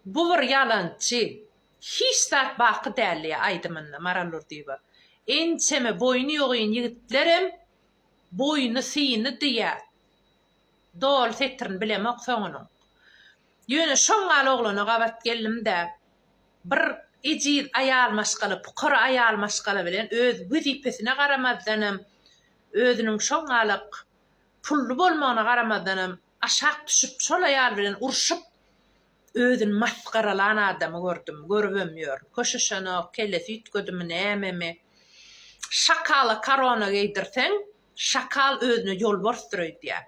Bu bir ýalançy, hiç zat baky däl diýýär aýdymynda Maral Durdyýewa. Ençeme boýny ýogyn ýigitlerem boýny syny diýýär. Doly setirini bilemok soňunyň. Ýöne şoň ýaly oglana gabat geldim-de, bir ejiz aýal maşgala, pukara aýal maşgala bilen öz wezipesine garamazdanam, özüniň şoň ýaly pully bolmagyna garamazdanam, Aşak düşüp şol aýal bilen urşup özüni masgaralan adamy gördüm, görübem ýörün. Köşeşenok, kellesi üýtgedimi nämemi. Şakala korona geýdirseň, şakal özüne ýolbarsdyr öýdýär.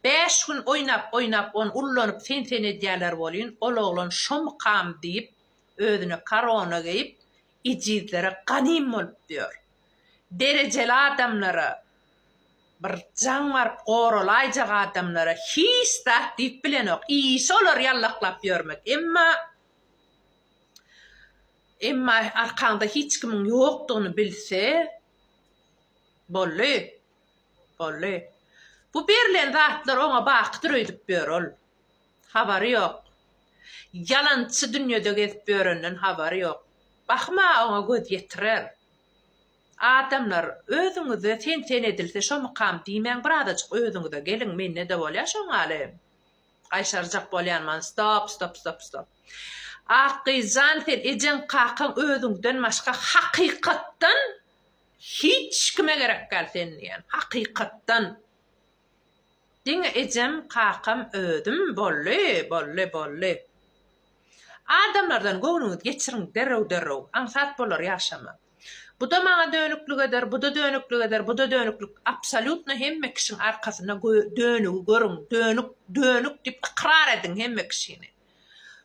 Bäş gün oýnap, oýnap ony ullanyp sen sen edýäler bolýyn, ol oglan şomykam diýip özüne korona geýip ejizlere ganym bolup ýör. Derejeli adamlara, Bir jaň baryp goralaýjak adamlara hiç zat diýip bilenok. Işi olary ýallaklap ýörmek. Emma Emma arkaňda hiç kimiň ýokdugyny bilse, boldy. Boldy. Bu berlen zatlar oňa bakydyr öýdüp ýör ol. Habary ýok. Ýalançy dünýede gezip ýörenden habary ýok. Bahym-a oňa göz ýetirer. Adamlar, özüňize sen-sen edilse şo mukam diýmäň, birazajyk özüňize geliň, mende-de bolýar şoň ýaly. Gaýşarjak bolýanman, stop, stop, stop, stop. Akgyz jan, sen ejeň, kakaň, özüňden başga hakykatdan hiç kime gerek däl sen diýýän, hakykatdan. Diňe ejem, kakam, özüm, boldy, boldy, boldy. Adamlardan göwnüňizi geçiriň derrew-derrew, aňsat bolar ýaşamak. Bu-da maňa dönüklik eder, bu-da dönüklik eder, bu-da dönüklik. Absolýutno hemme kişiň arkasynda dönügi görüň, dönük, dönük diýip ykrar ediň hemme kişini.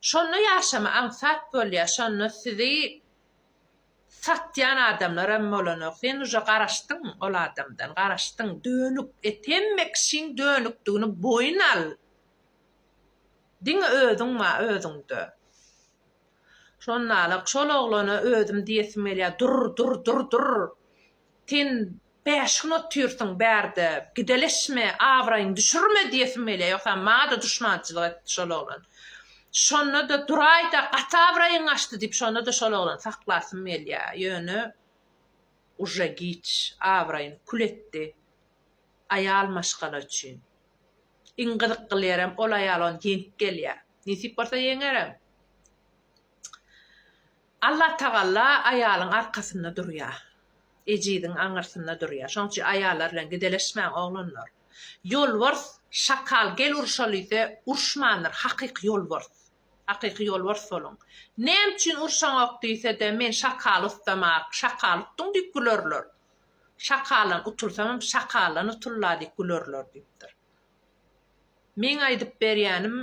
Şonda ýaşama aňsat bolýar, şonda sizi satýan adamlar hem bolanok. Sen uje garaşdyň ol adamdan, garaşdyň, dönük et, hemme kişiň dönükdigini boýun al. Diňe özüň bar özüňde. Şonda-da şol oglana özüm diýesim gelýär, Dur, dur, dur, dur! Sen bäş gün otyrsyň bärde, gideleşme, abraýyňy düşürme diýesim gelýär. Ýogsam maňa-da duşmançylyk etdi şol oglan. Şonda-da duraý-da, gaty abraýyň gaçdy diýip, şonda-da şol oglany saklasym gelýär. Ýöne uje giç, abraýyny kül etdi. Aýal maşgala üçin. Iň gyzykly ýerem ol aýal ony ýeňip gelýär. Nesip bolsa ýeňerem. Allatagalla aýalyň arkasynda durýar. Ejiziň aňyrsynda durýar. Şonuň üçin aýallar bilen gideleşmäň oglanlar. Ýolbars şakal gel uruşaly diýse uruşmandyr hakyky ýolbars. Hakyky ýolbars boluň. Näme üçin urşaňok diýsede men şakaly utdam ak, şakaly utduň diýip gülerler. Şakalan utulsaňam şakalan utul la diýip gülerler diýipdir. Meň aýdyp berýänim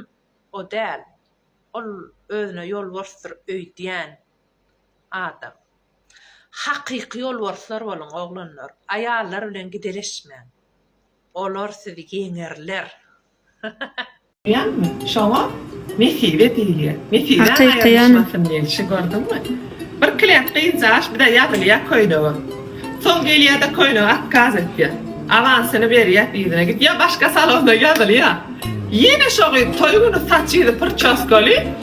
o däl. Ol özüne ýolborsdyr öýdýän adam. Hakyky ýolborslar boluň oglanlar. Aýallar bilen gideleşmäň. Olar sizi ýeňerler. Ýagny, şoňa Nesibe diýilýär. Nesibe aýrylyşmasyn gelşi gördüňmi? Bir kläk gyzjagaş bize ýazylýar köýnege. Soň gelýär-de köýnege otkaz etýär. Awansyny berýär, yzyna gidýär, başga salona ýazylýar. Ýene şo gyz toý güni saçyzy pyrçoskaly,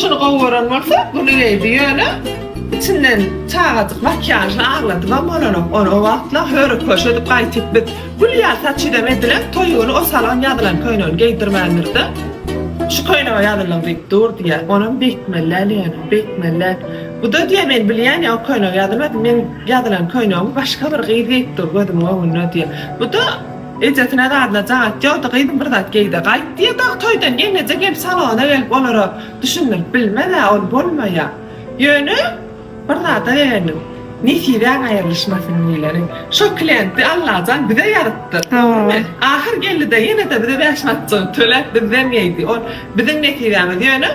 Şuny gowy gören bolsa, güni geldi. Ýöne içinden çagajyk makiýažly agladybam bolanok. Ony o wagtlar höre-köşe edip gaýtyp biz. Gül ýaly saçydam edilen, toý güni o salon ýazylan köýnegini geýdirmändir-de, Şu köýnege ýazylyň diýip dur diýýär. Onam beýtmeli-ä ýöne, beýtmeli-ä. Bu-da diýýär, men bilýän ýa o köýnege ýazylmady, meň ýazylan köýnegimi başga bir gyz geýipdir gözümiň öňünde diýýär. Bu-da. Ejesine zadyna jagap ýokdy, gyzym bir zat geý-de gaýt diýýärdi. Toýdan geňeje gelip salona gelip olara düşündirip bilmez-ä, ol bolmaýar. Ýöne bir zada begendim. Nesibäň aýrylyşmasyn diýleni. Şo klienti Allajan bize ýazypdyr. Hä. Ahyr geldi-de, ýene-de bize bäş manatjygyny töläp bizden geýdi. Ol biziň nesibämiz. Ýöne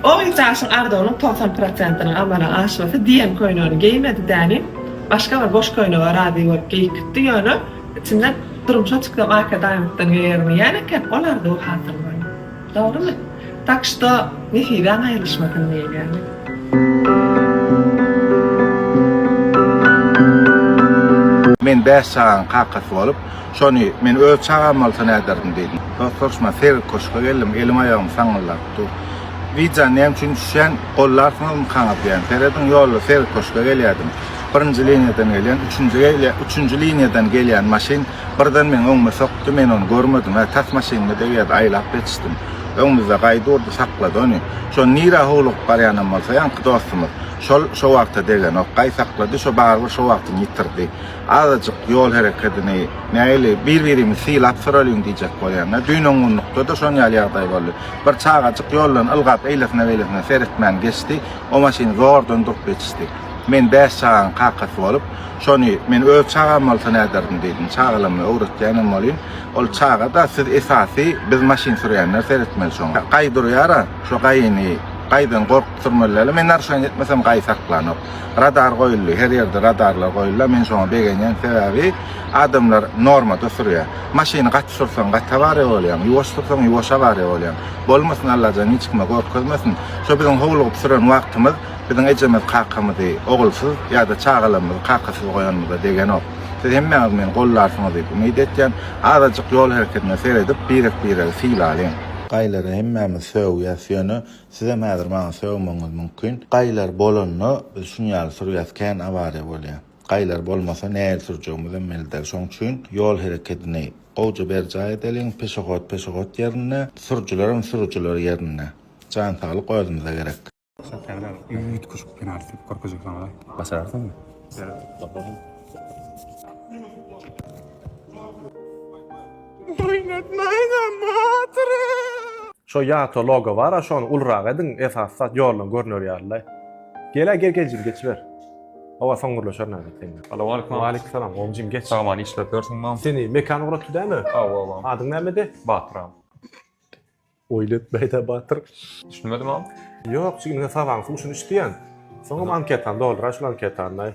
Ol ýitaşyň arzuwynyň togsan prosentiniň amala aşmasy diýen köýnegini geýmedi däni, başga bir boş köýnege razy bolup geýip gitdi, ýöne içinde durmuşa çyksam arkadanlykdan geýerin diýýän eken, ol arzuwy hasyl boldy. Dogrymy? Tak şto, nesibäň aýrylyşmasyn diýilýär. Men bäş çagaň kakasy bolup, Şony men öz çagam bolsa näderdim diýdim. Dost soruşman seýrek köşge geldim, elim-aýagym saňňyldap dur. Widja näme üçin düşýän, gollarsyňyzmy kaňyz diýen. Serediň ýolda seýrek köşge gelýärdim. Birinji liniýadan gelýän, üçünji gelýän, üçünji liniýadan gelýän maşyn birden meň öňüme sokdy, men ony görmedim, hä tas maşynyma degýärdi, aýlap ýetişdim. Öňümizde gaý durdy, saklady ony. Şony nirä howlugyp barýanam bolsa ýaňky dostumyz, şol şo wagta degenok, gaý saklady, şo barybir şo wagtyny ýitirdi. Azajyk ýol hereketini nähili bir-birimizi sylap soralyň diýjek bolýan-da, düýn-öň günlukda-da şon ýaly ýagdaý boldy. Bir çagajyk ýoldan ylgap eýlesine-beýlesine seretmän geçdi, o maşyn zordan durup ýetişdi. Men bäş çagaň kakasy bolup, şony men öz çagam bolsa näderdim diýdim. Çagalammy öwretýänem bolýyn. Ol çaga-da siz esasy biz maşyn sürýänler seretmeli şoňa. Gaý durýar-a, şo gaýyny gaýdan gork. Sürmeliler. Men narşan etmesem gaý saklanok. Radar goýuldy. Her ýerde radarlar goýuldy. Men şoňa begenýän sebäbi adamlar normada sürýär. Maşyny gaty sürseň gaty awariýa bolýaň. Ýuwaş sürseň ýuwaş awariýa bolýaň. Bolmasyn Allajan hiç kime görkezmesin. Şo biziň howlugyp süren wagtymyz biziň ejemiz kakamyzy ogulsyz ýa-da çagalarymyzy kakasyz goýanymyza degenok. Siz hemmäňiz meni gollarsyňyz diýip umyt etýän. Azajyk ýol hereketine seredip birek biregi sylalyň. Gaýlara hemmämiz sögýäs ýöne Sizem häzir maňa sögmegiňiz mümkin. Gaýlar bolanda biz şuny ýaly sürýäs, kän awariýa bolýa. Gaýlar bolmasa näil sürjegimizem belli däl. Şoň üçin ýol herekedini gowja berjaý edeliň, peşehod peşehod ýerinde, sürüjilerem sürüjiler ýerinde. Jan saglyk özümize gerek. Serkerdar üýtgeşik penalti edip görkezjek saňa. Başararsyňmy? Ýeri bakalım. Oýnatmaýda batyry. Şo ýata logo bara şony ulurak ediň esasy zat ýoldan görüner ýalylaý. Gel-ä gel geljigini geçiber. Hawa soň gürleşer näme sen. Alowaleýkum. Waleýkumsalam gowumjym geç. Sag aman işläp ýörsüň mam. Seni Mekan ugratdy dämi? Hawa mam. Adyň nämedi? Batyram. Oýly etmäýdä batyr. Düşünmedim am. Ýok, çünki men sabagyň suwşuny içdiýen. Soňam anketany dolduraý şul anketany.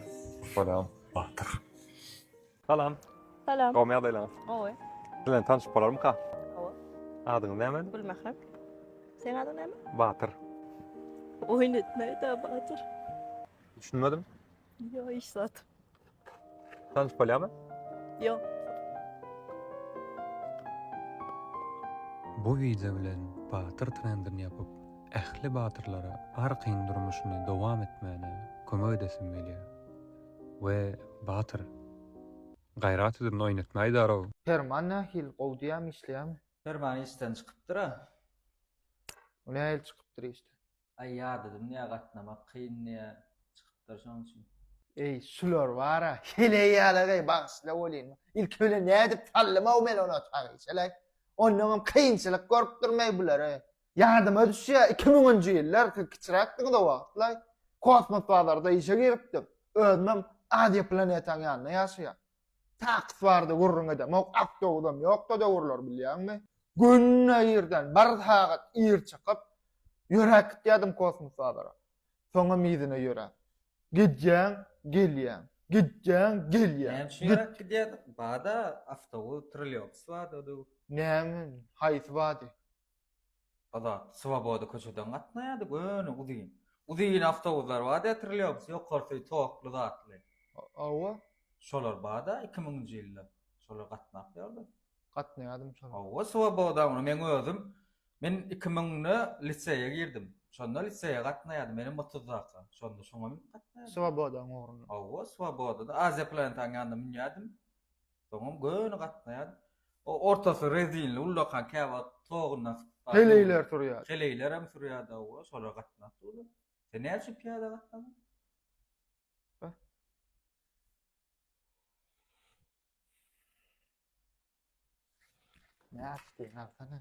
Bolam. Batyr. Salam. Salam. Gowmy ýagdaýlaryňyz? Gowy. Siz bilen tanşyp bolarmyka? Gowy. Adyňyz näme? Gülmährem. Seň adyň näme? Batyr. Oýun etmäýdä batyr. Düşünmedim. Ýok, hiç zat. Sen spalýamy? Ýok. Bu wideo bilen batyr trendini ýapyp, ähli batyrlara arkaýyn durmuşyny dowam etmäne kömek edesim gelýär. We batyr. Gaýrat edin oýnatmaýdarow. Perman nähili gowy diýämi işleýämi. Perman işden çykypdyra. Nähili çykypdyr işden. Aý ýadadym diýä gatnamak kyn diýä çykypdyr şoň üçin. Eý şular bara heleý ýalagaý bagyşla welin ilki bilen nädip saldymaw men ony otagy şeleý onnoňam kynçylyk gorupdyr meý bulary ýadyma düşýä iki müňünji ýyllar siz kiçiräkdiňiz o wagtlaý kosmos bazarda işe giripdim özümem aziýa planetaň ýanynda ýaşaýa Taks bardy gürrüň edem. Ok awtobusam ýokda döwürler bilýäňmi? Günde irden bir sagat ir çykyp, ýöräp gitýärdim kosmos bazara. Soňam yzyna ýöräp. Gidýäň, gelýäň. Gidýäň, gelýäň. Näme üçin ýöräp gidýärdik? Bada awtobus, trolleýbus bardy o döwür. Näme? Haýsy bady? Azat, Swoboda köçeden gatnaýardy, göni, uzyn. Uzyn awtobuslar bada ýetirilýomus, ýokarsy tokly zatly. Hawa. Şolar bada iki müňünji ýylda. Şolar gatnap ýördi. Gatnaýardym şolara. Hawa, Swoboda ony meň özüm, men iki müňde liseýe girdim. Şonda liseýe gatnaýardym, menem otuzdaka. Şonda şoňa münüp gatnaýardym. Swobodaň ugruna. Hawa, Swoboda-da Aziýa Planetaň ýanyna münýärdim. Soňam göni gatnaýan. O ortasy rezinli ullakan käwagt toguna sypyp. Heleýler sürýär. Heleýlerem sürýär dawa, şolar gatnap durlar. Sen näme üçin pyýada gatnadyň? Nätdiň, agsana.